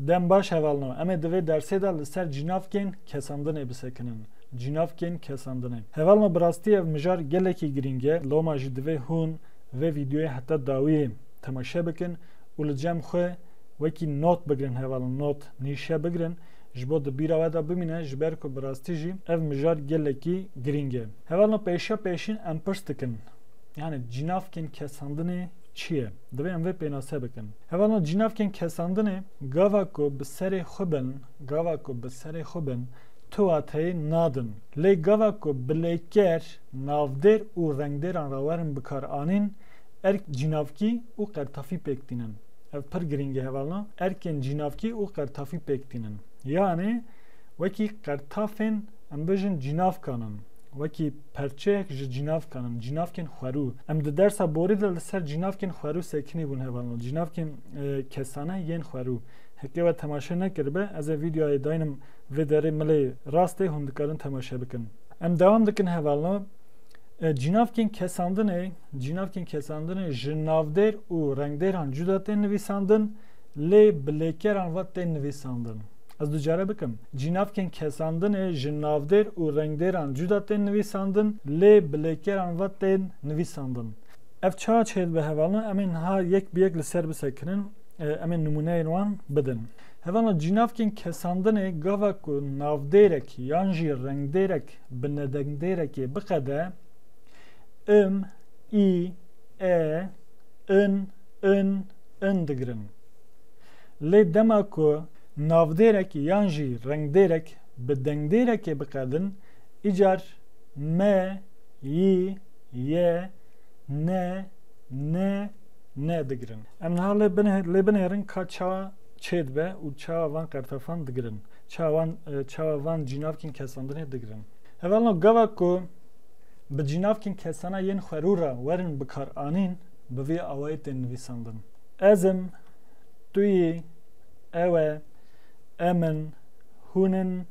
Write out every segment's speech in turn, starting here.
Dem baş hevalno. Em ê di vê dersê de li ser cînavkên kesandinê bisekinin. Cînavkên kesandinê. Hevalno bi rastî ev mijar gelekî girîng e. Loma jî divê hûn vê vîdyoyê heta dawiyê temaşe bikin û li cem xwe wekî not bigirin hevalno not, nîşe bigirin ji bo di bîra we de bimîne ji ber ku bi rastî jî ev mijar gelekî girîng e. Hevalno pêşa pêşîn em pirs dikin. Yani cînavkên kesandinê çi ye? Divê em vê pênase bikin. Hevalno cînavkên kesandinê gava ku bi serê xwe bin, gava ku bi serê xwe bin tu wateyê nadin. Lê gava ku bilêker, navdêr û rengdêran re werin bikaranîn, erk cînavkî û qertafî pêk tînin. Ev pir girîng e hevalno, erkên cînavkî û qertafî pêk tînin. Yanê wekî qertafên em bijin cînavkan in. Wekî. Perçeyek ji cînavkan in, cînavkên xwerû. Em di dersa borî de li ser cînavkên xwerû sekinî bûn hevalno, cînavkên kesane yên xwerû. Heke we temaşe nekiribe, ez ê vîdeoyê daynim vê derê milê rast ê hûn dikarin temaşe bikin. Em dewam dikin hevalno, Cînavkên kesandinê, cînavkên kesandinê ji navdêr û rengdêran cuda tên nivîsandin, lê bi lêkeran ve tên nivîsandin. Ez du care bikim. Cînavkên kesandinê ji navdêr û rengdêran cuda tên nivîsandin lê bi lêkeran ve tên nivîsandin. Ev çawa çê dibe hevalna em ê niha yek bi yek li ser bisekirin, em ê nimûneyên wan bidin. Hevalna cînavkên kesandinê gava ku navdêrek yan jî rengdêrek bi nedengdêrekê biqede, im, î, e, in, in, in digirin. Lê dema ku navdêrek yan jî rengdêrek bi dengdêrekê biqedin, îcar me, yi, ye, ne, ni, ne digirin. Em niha lê binêrin ka çawa çêdibe û çawa van qertefan digirin, çawa van cînavkên kesandinê digirin. Hevalno gava ku bi cînavkên kesana yên xwerû re werin bikaranîn, bi vî awayî tên nivîsandin. Ez im. tu yî, ew e, em in, hûn in,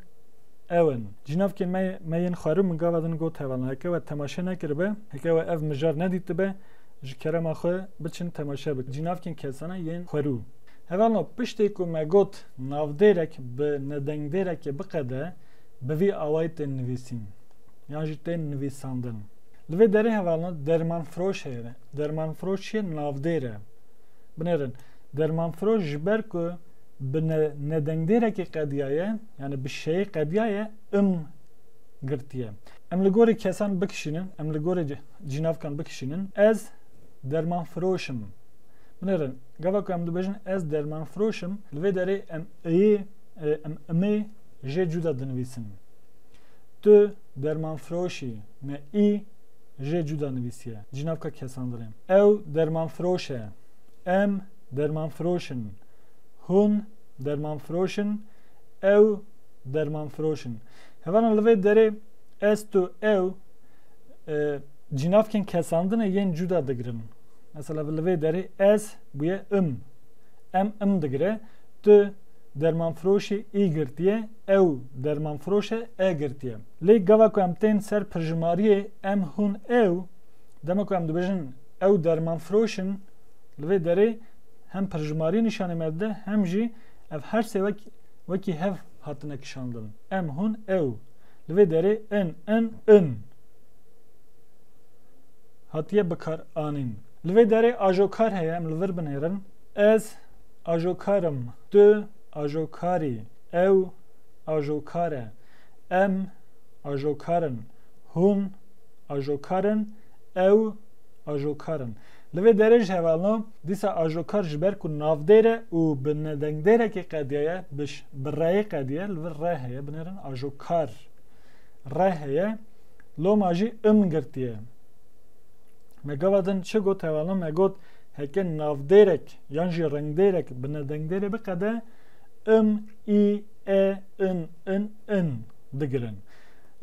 ew in. Cînavkên me me yên xwarin min gava din got hevalan heke we temaşe nekiribe, heke we ev mijar nedîtibe ji kerema xwe biçin temaşe bikin cînavkên kesana yên xwerû. Hevalno piştê ku me got navdêrek bi nedengdêrekê biqede bi vî awayî tên nivîsîn yan jî tên nivîsandin. Li vê derê hevalno dermanfiroş heye, dermanfiroş çi ye navdêr e. Binêrin. Dermanfiroş ji ber ku bi nedengdêrekî qediyaye, yanî bi şeyê qediyaye im girtiye. Em li gorî kesan bikişînin, em li gorî cînavkan bikişînin, ez dermanfiroş im. Binêrin, gava ku em dibêjin ez dermanfiroş im, li vê derê em iyê, em imê jê cuda dinivîsin. Tu dermanfiroş î, me î. jê cuda nivîsiye, Cînavka Kesandrê. Ew dermanfiroş e. Em dermanfiroş in. Hûn dermanfiroş in. Ew dermanfiroş in. Hevanan li vê derê ez, tu, ew cînavkên kesandinê yên cuda digirin. Mesela li vê derê ez bûye im. Em im digire. Tu dermanfiroşî î girtiye, ew dermanfiroş e e girtiye. Lê gava ku em tên ser pirjimariyê em hûn ew, dema ku em dibêjin ew dermanfiroş in, li vê derê hem pirjimariyê nîşanê me dide hem jî ev her sê wek wekî hev hatine kişandin, em hûn ew, li vê derê in, in, in hatiye bikaranîn. Li vê derê ajokar heye em li vir binêrin, ez ajokar im, tu ajokarî, ew ajokar e. Em ajokar in. Hûn ajokar in. Ew ajokar in. Li vê derê ji hevalno dîsa ajokar ji ber ku navdêr e û bi nedengdêrekî qediya ye, bi reyê qediye, li vir re heye, binêrin ajokar. Re heye, loma jî im girtiye. Me gava din çi got hevalno? Me got heke navdêrek yan jî rengdêrek bi nedengdêrê biqede, im, î, e, in, in, in digirin.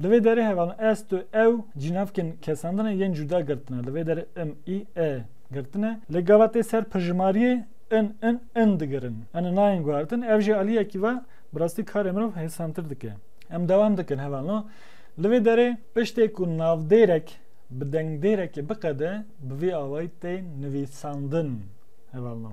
Li vê derê heval ez, tu, ew cînavkên kesan ne yên cuda girtine. Li vê derê im, î, e girtine. Lê gava tê ser pirjimariyê in, in, in digirin. Ini nayên guhardin. Ev jî aliyekî va bi rastî karê mirov hêsantir dike. Em dewam dikin heval no. Li vê derê piştê ku navdêrek bi dengdêrekê biqede bi vî awayî tê nivîsandin. Heval no.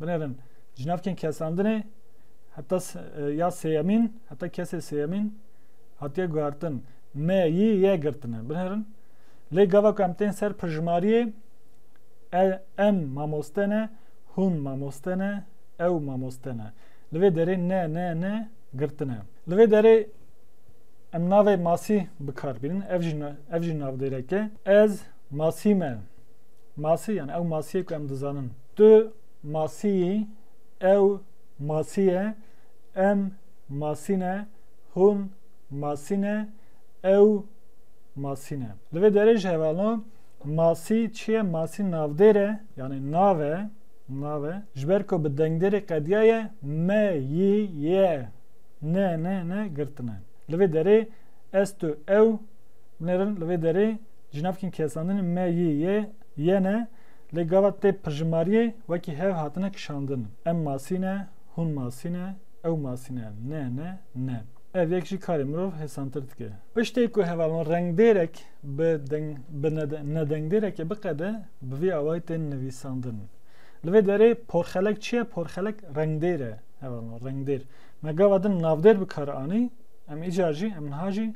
Binêrin cinavkên kesandinê heta ya sêyemîn heta kesê sêyemîn hatiye guhertin. Me yî ye girtine. Binêrin lê gava ku em tên ser pirjimariyê e, em mamoste ne, hûn mamoste ne, ew mamoste ne. Li vê derê ne ne ne girtine. Li vê derê em navê masî bikar bînin ev jî ev jî navdêrek e. Ez masî me. Masî yani ew masiyê ku em dizanin. Tu masî yî, ew masî ye, em masî ne, hûn masî ne, ew masî ne. Li vê derê jî hevano masî çi ye? Masî navdêr e, yanî nav e, nav e. Ji ber ku bi dengdêrê qediya ye, me, yî, ye, ne, ne, ne girtine. Li vê derê ez, tu, ew binêrin. Li vê derê ji navkên kesandinê me, yî, ye, ye, ne. Lê gava tê pirjimariyê wekî hev hatine kişandin, em masî ne, hûn masî ne, ew masî ne, ne, ne, ne. Ev yek jî karê mirov hêsantir dike. Piştê ku hevalon rengdêrek bi deng bi nedengdêrekê biqede, bi vî awayî tên nivîsandin. Li vê derê porxelek çi ye? Porxelek rengdêr e. Hevalon rengdêr. Me gava din navdêr bi kar anî, em îcar jî, em niha jî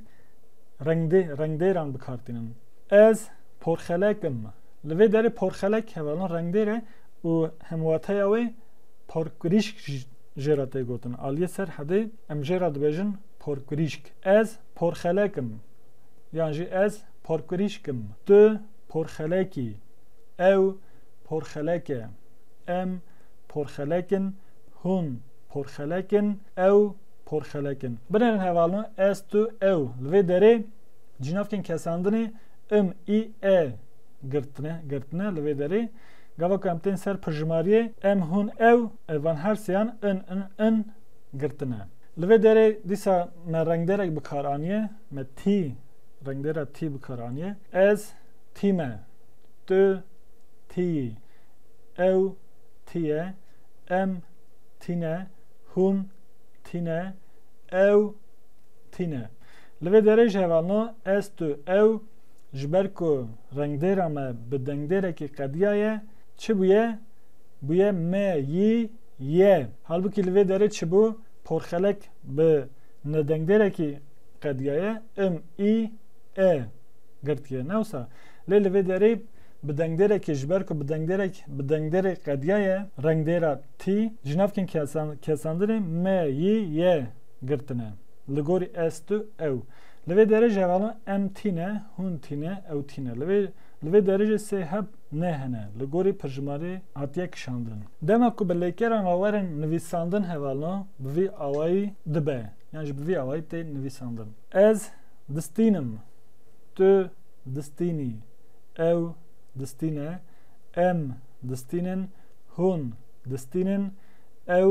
rengdê rengdêran bi kar tînin. Ez. porxelek in. Li vê derê porxelek hevalin rengdêr e û hemwateya wê porkrîşk jê re tê gotin. Aliyê ser hedê em jê re dibêjin porkrîşk. Ez porxelek im yan jî ez porkrîşk im. Tu porxelek î. Ew porxelek e. Em porxelek in. Hûn porxelek in. Ew porxelek in. Binêrin hevalin ez, tu, ew. Li vê derê cînavkên kesandinê im, î, e girtine, girtine li vê derê. Gava ku em tên ser pirjimariyê em, hûn, ew, ev van her sêyan in, in, in girtine. Li vê derê dîsa me rengdêrek bi kar aniye, me tî, rengdêra tî bi kar aniye. Ez tî me. Tu tî yî. Ew tî ye. Em tî ne. Hûn tî ne. Ew tî ne. Li vê derê jî heva na, ez, tu, ew, ji ber ku rengdêra me bi dengdêrekî qediya ye, çi bûye? Bûye me, yî, ye. Halbûkî li vê derê çi bû? Porxelek bi nedengdêrekî qediya ye, im, î, e, girtiye, ne wisa? Lê li vê derê bi dengdêrekî ji ber ku bi dengdêrek bi dengdêrê qediya ye, rengdêra tî, ji navkên kesan, kesandirê me, yî, ye, girtine. Li gorî ez, tu, ew. Li vê derê jî hevala em tîne, hûn tîne, ew tîne. Li vê li vê derê jî sê heb nê hene. Li gorî pirjimarê hatiye kişandin. Dema ku bi lêkeran ve werin nivîsandin hevalno bi vî awayî dibe yan jî bi vî awayî tê nivîsandin. Ez distînim. Tu distînî. Ew distîne. Em distînin. Hûn distînin. Ew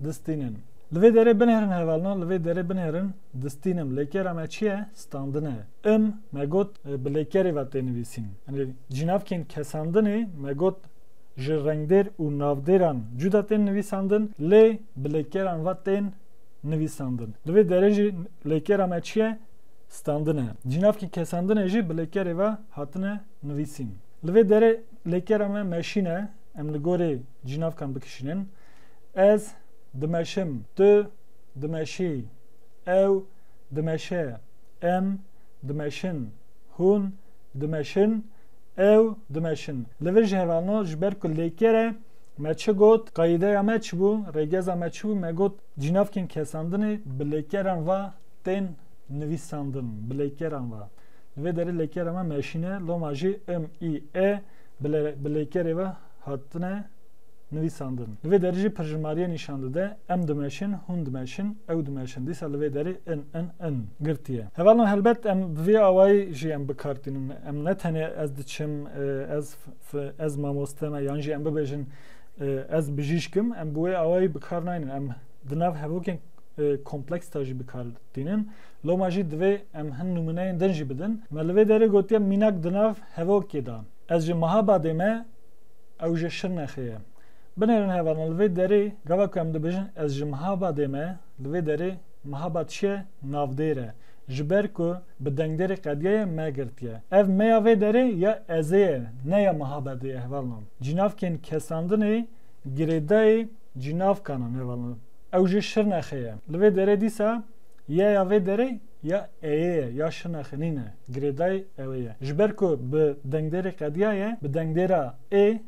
distînin. Li vê derê binêrin hevalina li vê derê binêrin distînim. Lêkera me çi ye? Standin e. Im me got bi lêkerê ve tê nivîsîn. Yanî cînavkên kesandinê me got ji rengdêr û navdêran cuda tên nivîsandin lê bi lêkeran ve tên nivîsandin. Li vê derê jî lêkera me çi ye? Standin e. Cînavkên kesandinê jî bi lêkerê ve hatine nivîsîn. Li vê derê lêkera me meşîn e. Em li gorî cînavkan bikişînin. Ez dimeşim, tu dimeşî, ew dimeşe, em dimeşin, hûn dimeşin, ew dimeşin. Li vir ji hevalno ji ber ku lêkere me çi got, qayîdeya me çi bû, rêgeza me çi bû, me got cînavkên kesandinê bi lêkeran va tên nivîsandin, bi lêkeran va. Li vê derê lêkera me meşîn e, loma jî im, î, e bi lêkerê ve hatine nivîsandin. Li vê derê jî pirjimariye nîşan dide, em dimeşin, hûn dimeşin, ew dimeşin, dîsa li vê derê in, in, in girtiye. Hevalên helbet em bi vê awayî jî em bi kar tînin. Em ne tenê ez diçim, ez, ez mamoste me yan jî em bibêjin ez bijîşk im, em bi wê awayî bi kar naynin. Em di nav hevokên kompleks de jî bi kar tînin. Loma jî divê em hin nimûneyên din jî bidin. Me li vê derê gotiye mînak di nav hevokê de. Ez ji Mahabadê me. Ew ji Şirnexê ye. Binêrin hevalin li vê derê gava ku em dibêjin ez ji Mihabadê me, li vê derê Mihabad çi ye? Navdêr e. Ji ber ku bi dengdêrê qediyaye me girtiye. Ev me ya vê derê ya ezê ye ne ya Mihabadê ye hevalin. Cînavkên kesandinê girêdayî cînavkan in hevalin. Ew ji Şirnexê ye. Li vê derê dîsa ye ya vê derê? ya eye ye ya şina xinîn e. Girêdayê ewê ye. Ji ber ku bi dengdêrê qediya ye, bi dengdêra ê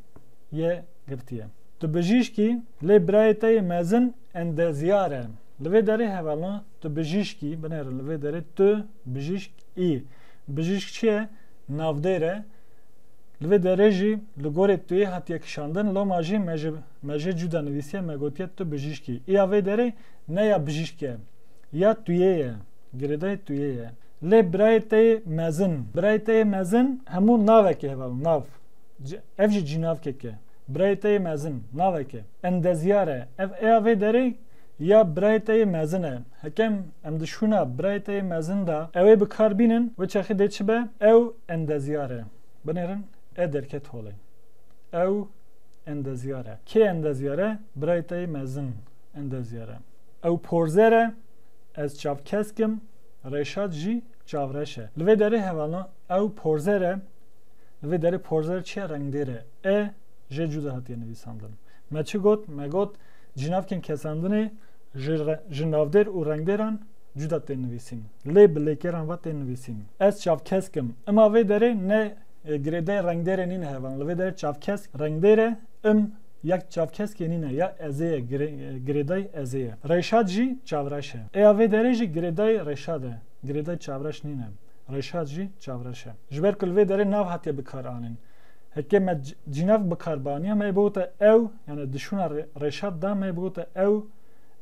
yê girtiye. Tu bijîşkî, lê birayê te yê mezin endeziyar e. Li vê derê hevalna tu bijîşkî, binêrin li vê derê tu bijîşk î. Bijîşk çi ye? Navdêr e. Li vê derê jî li gorê tu yê hatiye kişandin, loma jî me ji me jê cuda nivîsiye, me gotiye tu bijîşk î. Îya vê derê ne ya bijîşk e. Ya tu yê ye. Girêdayê tu yê ye. Lê birayê te yê mezin. Birayê te yê mezin hemû navekê hevalin. Nav. Ev jî cînavkek e. Birayê te yê mezin. Navek e. Endezyar e. Ev ê ya vê derê ya birayê te yê mezin e. Hekem em di şûna birayê te yê mezin de ew ê bi kar bînin, wê çaxê dê çi be? Ew endezyar e. Binêrin e derket holê. Ew endezyar e. Kê endezyar e? Birayê te yê mezin endezyar e. Ew porzer e, ez çavkesk im, Reşat jî çavreş e. Li vê derê hevalna ew porzer e, li vê derê porzer çiya rengdêr e, e jê cuda hatiye nivîsandin. Me çi got? Me got cînavkên kesandinê ji ji navdêr û rengdêran cuda tên nivîsîn. Lê bi lêkêran ve tên nivîsîn. Ez çavkesk im. Ima vê derê ne girêdayê rengdêrê nîn hevalin. Li vê derê çavkesk rengdêr e, im Yek çavkeskê nîne ya Ezê ye girêdayî Ezê ye. Rêşad jî çavreş e. Êya vê derê jî girêdayî Rêşad e. Girêdayî çavreş nîne. Rêşad jî çavreş e. Ji ber ku li vê derê nav hatiye bikaranîn. Heke me cînev bikar baniya me yê bigote ew yanî di şûna Rêşad de me yê bigote ew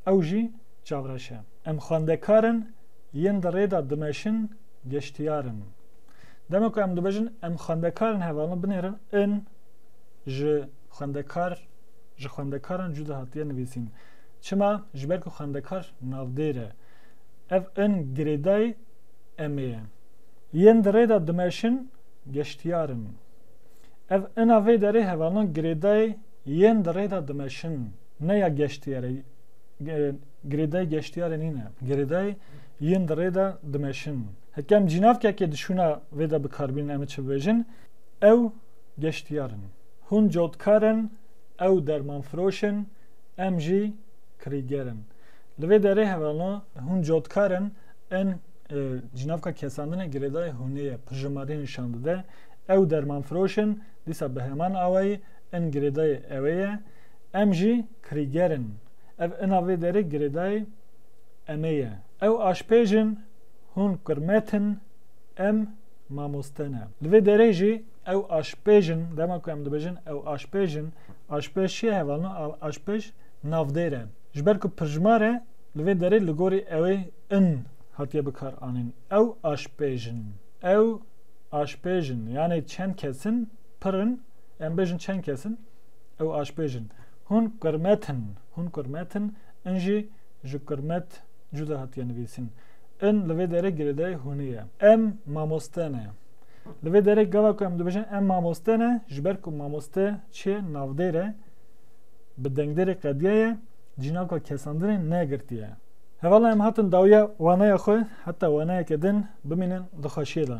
ew jî çavreş e. Em xwendekar in yên di rê de dimeşin geştiyar in. Dema ku em dibêjin em xwendekar in hevalna binêrin in ji. xwendekar ji xwendekaran cuda hatiye nivîsîn. Çima? Ji ber ku xwendekar navdêr e. Ev in girêdayî emê ye. Yên di rê de dimeşin geştiyar in. Ev ina vê derê hevalna girêdayê yên di rê de dimeşin ne ya geştiyarê girêdayê geştiyarê nîne. Girêdayê yên di rê de dimeşin. Hekem cînavkekê dişûna vê de bikarbînin em çi bibêjin ew geştiyar in. Hûn cotkar in, ew dermanfiroş in, em jî kirîger in. Li vê derê hevano hûn cotkar in, in ji navka kesandan e girêdayê hûnê ye, pirjimarî nîşan dide. Ew dermanfiroş in, dîsa bi heman awayî in girêdayê ewê ye, em jî kirîger in. Ev ina vê derê girêdayê emê ye. Ew aşpêj in, hûn qirmet in, em mamoste ne. Li vê derê jî Ew aşpêj in, dema ku em dibêjin ew aşpêj in, aşpêj çi ye hevalno aşpêj navdêr e. Ji ber ku pirjmar e li vê derê li gorî ewê in hatiye bikar anîn. Ew aşpêj in. Ew aşpêj in. Yanê çend kes in, pir in, em bêjin çend kes in, ew aşpêj in. Hûn qirmet in. Hûn qirmet in. In jî ji qirmet cuda hatiye nivîsin. In li vê derê girêdayê hûnê ye. Em mamoste ne. Li vê derê gava ku em dibêjin em mamoste ne ji ber ku mamoste çê navdêr e bi dengdêrê qediye ye cînaka kesandinê negirtiye. Hevala em hatin dawiya waneya xwe heta waneyeke din bimînin di xweşiyê de.